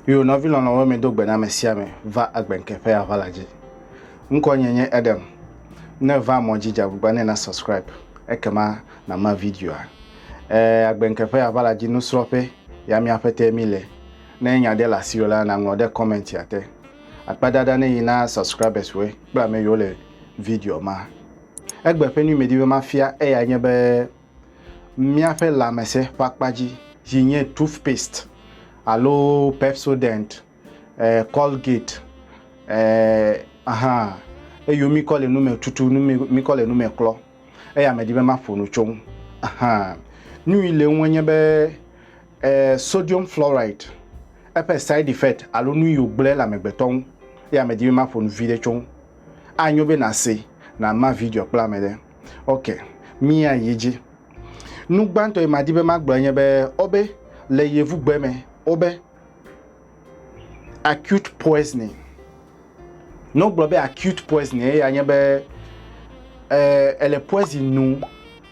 Yo nɔvi lɔlɔ̃wo mi do gbe na ame sia ame va agbenke ƒe aʋala dzi. Ŋkɔ nye nye Edem. Ne va mɔ dzi dzagbugba ne na subscribe ekema nama videoa. Eh, agbenke ƒe aʋala dzi nusrɔ̃ƒe ya miaƒe te mi le. Ne nya ɖe le asiwò la naŋlɔ ɖe commentia te. Akpadada ne yi na subscribers we kple ame yiwo le video ma. Egbe ƒe nuyimedi be mafia eyae nye be míaƒe lãmesẽ ƒe akpa dzi si nye toothpaste alo Pepsodent, eh, Colgate, eh, aha, eyo mikɔ le nu me tutu, nu me mikɔ le nu me klɔ. Eya medi be maƒo nu tso ŋu. Aha. Nui le ŋu nye be eh, sodium fluoride eƒe side effect alo nu yi wògblẽ le amegbetɔ ŋu. Eya medi be maƒo nu vi ɖe tso ŋu. Anyo be nàsee, nàma video kple ame ɖe. Ok, míayi edzi. Nu gbãtɔ yi madi be magblɔe nye be, wobe, le Yevugbe me, wobe, acute poisoning. Ne wogblɔ be acute poisoning, eya nye be, e, èle poison nom.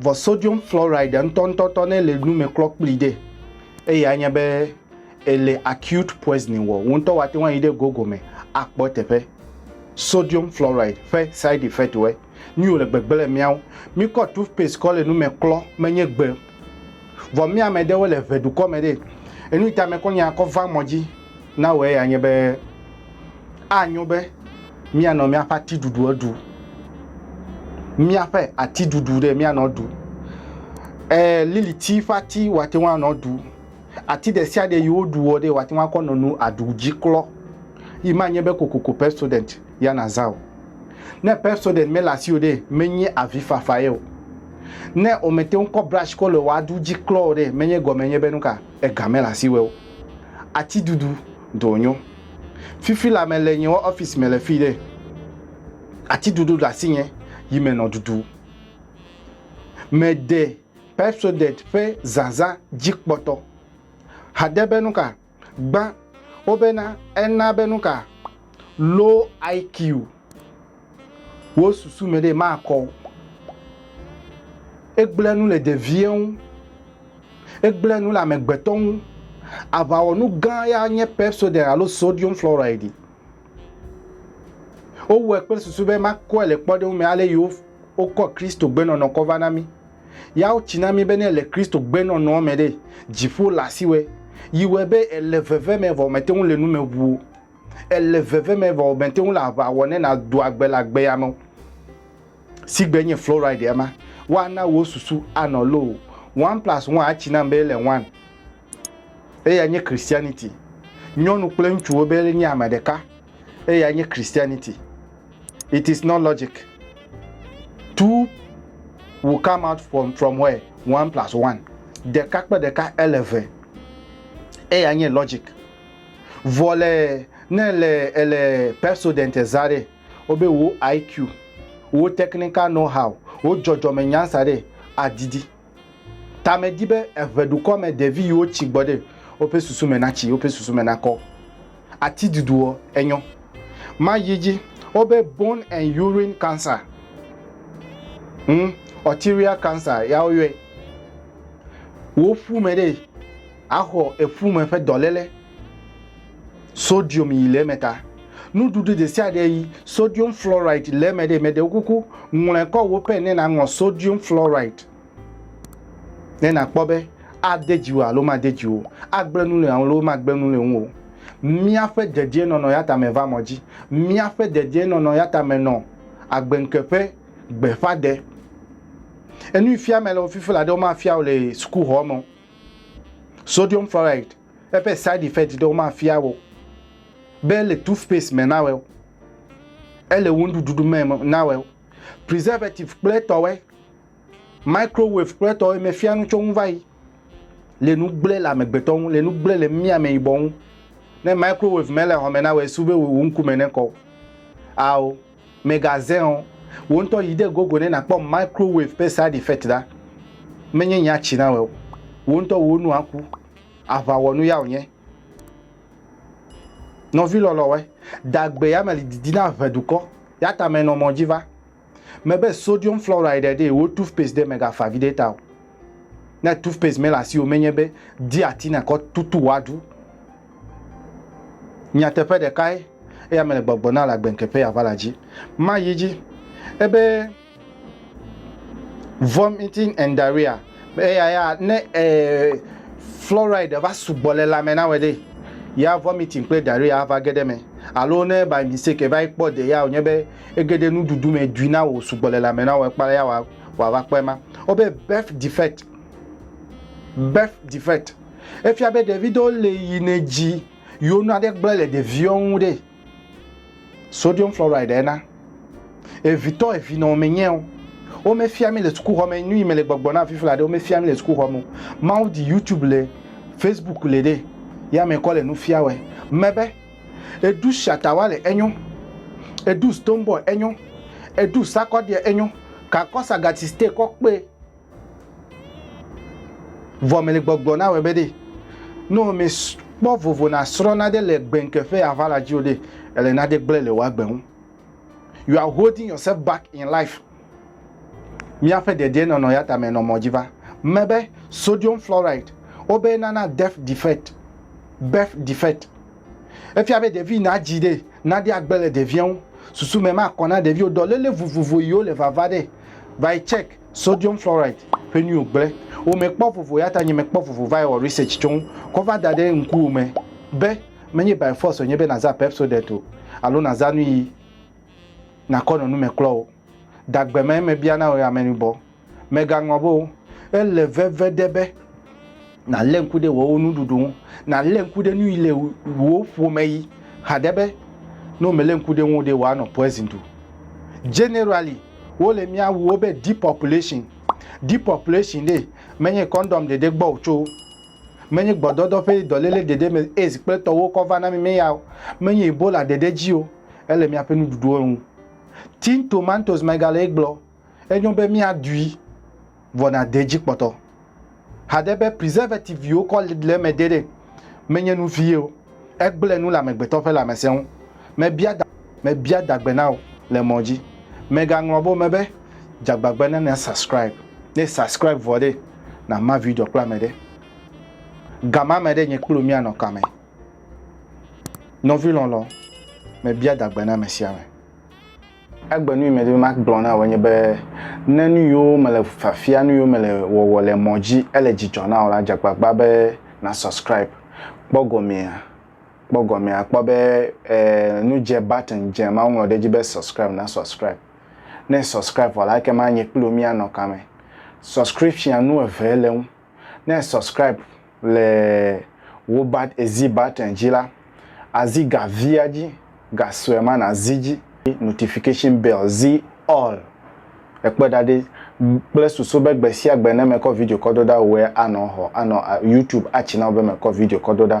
Vɔ sodium fluoride ŋutɔŋutɔtɔ ne le nu me klɔ kpli ɖe, eye anya be ele acute poisoning wɔ. Wo ŋutɔ woate ŋu ayi ɖe Google me akpɔ teƒe sodium fluoride ƒe side effect wɔe. Nu yi wòle gbegbe le mía ŋu. Míkɔ toothpaste kɔ le nu me klɔ menye gbe. Vɔ mía amɛɖewo le ŋɛdukɔ mɛ ɖe. Enu yi ta mɛkɔ nya kɔ va mɔ dzi. Na wɔ eya nye be, anyo be míanɔ míaƒe atiɖuɖuɔ ɖu, míaƒe atiɖuɖu ɖe míanɔ ɖu. E liliti ƒe ati woate ŋu anɔ ɖu. Ati ɖe sia ɖe yi woɖuɔ ɖe woate ŋu akɔ nɔ nu aɖu dzi klɔ yi manye be kokoko Pepsodent ya nàzã o. Ne Pepsodent mele asiwò ɖe, menye avifafa ye o. Ne womete ŋu kɔ brashi kɔ le wò aɖu dzi klɔ o ɖe, menye gɔme nye be nuka? Ega mele asiwò o. atidudu dɔ nyo. Fifi la me le nye wɔ office me le fi ɖe atidudu ɖe asi nye yi me nɔ dudu. Me de Pepsodent ƒe zazã dzi kpɔtɔ. Hade be nuka gbã wo bena ena be nuka low IQ. Wo susu me ɖe makɔ o. Egblẽ nu le ɖevie ŋu. Egblẽ nu le amegbetɔ ŋu. Aʋawɔnu gã ya nye Pepsodent alo sodium fluoride. Wowɔe kple susu be makɔe le kpɔɖeŋu me ale yi wokɔ Kristo gbenɔnɔ kɔ va na mí. Ya wotsi na mí be ne èle Kristo gbenɔnɔa me ɖe, dziƒo le asiwò. Yi wɔe be èle veve me vɔ mète ŋu le nu me ʋu o. Èle veve me vɔ mète ŋu le aʋa wɔ ne nàdo agbe le agbea me o, si gbe nye fluoride ema. Woana wò susu anɔ loo. One plus one atsi nam be ele one. Eyae nye Christianity. Nyɔnu kple ŋutsuwo be nye ame ɖeka. Eyae nye Christianity. It is not logic. Two will come out from, from where? One plus one. Ɖeka kple ɖeka ele eve. Eyae nye logic. Vɔ le ne le ele Pepsodent eza ɖe, wo be wo IQ, wo technical know how, wo jɔjɔme nya sa ɖe a didi. Ta me di be eŋe ɖukɔ me ɖevi yi wo tsi gbɔ ɖe wo ƒe susu me na tsi, wo ƒe susu me na kɔ. Ati dudu ɔ, e nyɔ. Ma yi dzi, wo be bone and urine cancer, ŋ, arterial cancer ya wo yɔɛ. Wo ƒu me ɖe. Axɔ eƒu me ƒe dɔléle sodium yi le eme ta. Nuɖuɖu ɖesiaɖe yi sodium fluoride le eme ɖe, meɖe wo kuku ŋlɔe kɔ wò pen ne nàŋlɔ sodium fluoride ne nàkpɔ be ade dziwò alo made dziwò, agblẽ nu le ŋuwò alo magblẽ nu le ŋuwò. Míaƒe dedienɔnɔ ya ta meva mɔ dzi. Míaƒe dedienɔnɔ ya ta menɔ agbeŋke ƒe gbeƒãde. Enuifiame le wo fifi la ɖe womafia wò le sukuxɔ me o. Sodium fluoride, eƒe side effect ɖewo mafia wò be ele toothpaste me na wò, ele wò nuɖuɖu me na wò, preservative kple etɔwoe, microwave kple etɔwoe mefia nu tso ŋu va yi le nu gblẽ le amegbetɔ ŋu, le nu gblẽ le mí ameyibɔ ŋu. Ne microwave mele xɔ me na wò, esu be wò ŋkume nekɔ o. Ao. Mègazẽ o. Wò ŋutɔ yi ɖe Google ne nàkpɔ microwave ƒe side effect ɖa. Menye nya tsi na wòe o. Wò ŋutɔ wò nu aku. Aʋawɔnu ya wònye. Nɔvi lɔlɔ̃woe, dagbe ya meli didi na ʋe dukɔ, ya ta menɔ mɔ dzi va. Mebe sodium fluoride ɖee wò toothpaste ɖe mègafa vi ɖe ta o. Ne toothpaste mele asiwò menye be di ati na kɔ tutu woaɖu. Nyateƒe ɖekae eya mele gbɔgblɔ na le agbenkeƒe ya va la dzi. Ma yi dzi ebe vomiting and diarrhea eya ya ne eh, fluoride va sugbɔ le lame na wede ya vomiting kple diarrhea va ge ɖe me alo ne by mistake va kpɔ de ya wònye be ege ɖe nuɖuɖu me dui na wò sugbɔ le lame na wò ekpa ya wa wòava kpɔe ma. Wobe birth defect. Birth defect. Efia be ɖevi ɖewo le yi ne dzi yewo nu aɖe gblẽ le ɖeviwo ŋu ɖe. Sodium fluoride ena. Evitɔ evi nɔ menye o. Womefia mi le sukuxɔ me nu yi me le gbɔgbɔ na afi fla ɖe womefia mi le sukuxɔ me o. Mawu di YouTube le Facebook le ɖe ya me kɔ le nu fia wɛ. Mebe. Edu shatawale enyo. Edu stone boy enyo. Edu sakɔdeɛ enyo. Kakɔ sagati ste kɔ kpe. Vɔ mele gbɔgblɔ na wɛ be ɖe. No mi kpɔ vovo na srɔ na ɖe le gbenke fe ava la dzi o ɖe. Ele na ɖe gble le wa gbe ŋu. You are holding yourself back in life. Míaƒe dedienɔnɔ ya tame nɔ mɔ dzi va me be sodium fluoride wobe nana death defect, birth defect. Efia be ɖevi nadzi ɖe naɖi agbe le ɖevia ŋu. Susu me makɔ na ɖeviwo dɔléle vovovo yiwo le vava ɖe vae check sodium fluoride ƒe nuiwo gble. Womekpɔ vovo ya ta nye mekpɔ vovo vae wɔ research tso ŋu kɔ va da ɖe ŋkuwò me be menye by force wònye be naza Pepsodent o alo naza nuyi. nakɔ nɔ nume klɔ o. Dagbe mɛ mebia na wò amɛnubɔ. Mɛgaŋɔ be o. Ele veve ɖe be nalé ŋku ɖe wowo nuɖuɖu ŋu, nalé ŋku ɖe nuyi le wowo ƒomɛ yi xa ɖe be ne womele ŋku ɖe ŋuo ɖe woanɔ poison ɖu. Generally, wole mia wuwo be depopulation. Depopulation ɖe menye condom ɖeɖe gbɔ o tso. Menye gbɔdɔdɔ ƒe dɔléle ɖeɖe me AIDS kple tɔwo kɔ va na mí me ya o. Menye Ebola ɖeɖe dzi o. Ele míaƒe nuɖuɖuwo ŋu. Tin Tomatoes megale egblɔ, Enyo be míaɖui, vɔ nàde edzi kpɔtɔ. Haɖe be preservative viwo kɔ le eme ɖeɖe menye nu vie o. Egblẽ nu le amegbetɔ ƒe lãmesẽ ŋu. Mebia da, mebia da gbe na wò le mɔ dzi. Mègaŋlɔ be wome be dzagbagbe na na subscribe. Ne e subscribe vɔ ɖe, na ma video kple ame ɖe. Ga ma me ɖe nye kple wò míanɔ kame. Nɔvi lɔlɔ, mebia da gbe na ame sia ame. Egbe nu yi medi be magblɔ na wò enye be, ne nu yiwo mele fiafia, nu yiwo mele wɔwɔ le mɔ dzi ele dzidzɔ na wò la, dze agbagba be na subscribe. Kpɔ gɔmea, kpɔ gɔmea, àkpɔ be e nu dze button dze ma woŋlɔ ɖe edzi be subscribe, na subscribe. Ne e subscribe vɔ la ekema nye kpli wò mía nɔ kame. Subscription nu eve le eŋu. Ne è subscribe le wò bat zi button dzi la, àzi ga via dzi, ga sue ma nàzi dzi. Notification bell zi all. Èkpɔe ɖa ɖe, kple susu be gbe sia gbe ne mekɔ video kɔ do ɖa wòe anɔ xɔ anɔ YouTube atsi na wò be mekɔ video kɔ do ɖa.